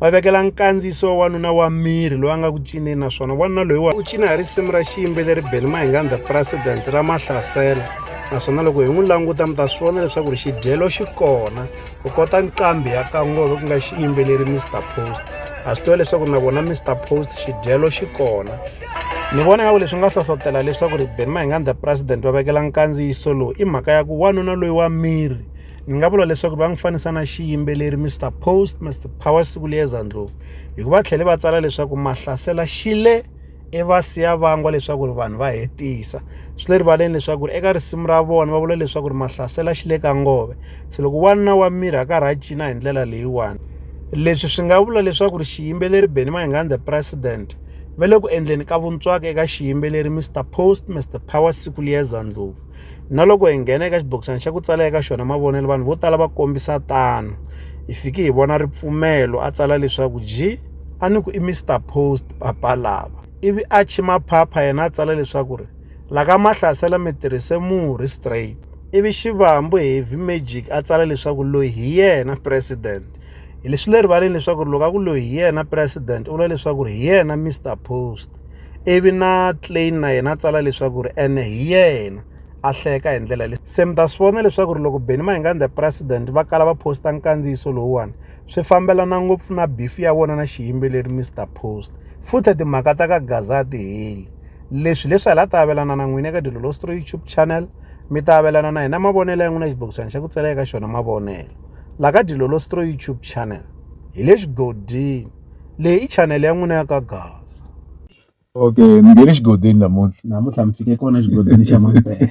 va vekela nkandziyiso wa wanuna wa miri loyi a nga ku cineni naswona wanuna loyi wa u cina hi risimu ra xiyimbeleri beli mahingandza president ra mahlasela naswona loko hi n'wi languta mi ta swi vona leswaku ri xidyelo xi kona u kota nqambi ya kangove ku nga xiyimbeleri mr post a swi tiva leswaku na vona mr post xidyelo xi kona ni vona ngaku leswi nga hlohlotela leswaku ri beni mahingandza president va vekela nkandziyiso lowu i mhaka ya ku wanuna loyi wa miri ni nga vula leswaku va n'wi fanisa na xiyimbeleri mr post mr power siku liyeza ndlovu hikuva va tlhele va tsala leswaku mahlasela xile i va siya vangwa leswaku ri vanhu va hetisa swi le rivaleni leswaku ri eka risimu ra vona va vula leswaku ri mahlasela xi le ka ngove se loko wanuna wa miri a ka rha cina hi ndlela leyiwani leswi swi nga vula leswaku ri xiyimbeleri beni mahingani the president va le ku endleni ka vuntswaka eka xiyimbeleri mr post mr power siku liyeza ndlovu Na loko hi nghena eka xibokisana xa ku tsala eka xona mavonelo, vanhu vo tala va kombisa tano. Hi fike hi vona ripfumelo a tsala leswaku ji a ni ku i Mr Post papa lava. Ivi a chima phapha yena a tsala leswaku ri la ka mahlasela mi tirhise murhi straight. Ivi Xivambu Heavy Magic a tsala leswaku loyi hi yena president. Hi leswi le rivaleni leswaku ri loko a ku loyi hi yena president u vula leswaku ri hi yena Mr Post. ivi na Klein na yena a tsala leswaku ri ene hi yena a hleka hi ndlela leyi se mi ta swi vona leswaku ri loko Benny Mayengani the president va kala va posta nkandziyiso lowuwani swi fambelana ngopfu na bifi ya vona na xiyimbeleri Mr Post futhi timhaka ta ka Gaza ti heli leswi leswi hala ta avelana na n'wina eka Dilolostro YouTube channel mi ta avelana na hina mavonelo ya n'wina xibokisana xa ku tsala eka xona mavonelo la ka Dilolostro YouTube channel hi le xigodini Leyi i chanele ya n'wina ya ka Gaza. Okay, mi nghene xigodini namuntlha. Namuntlha mi fike kona xigodini xa Mampela.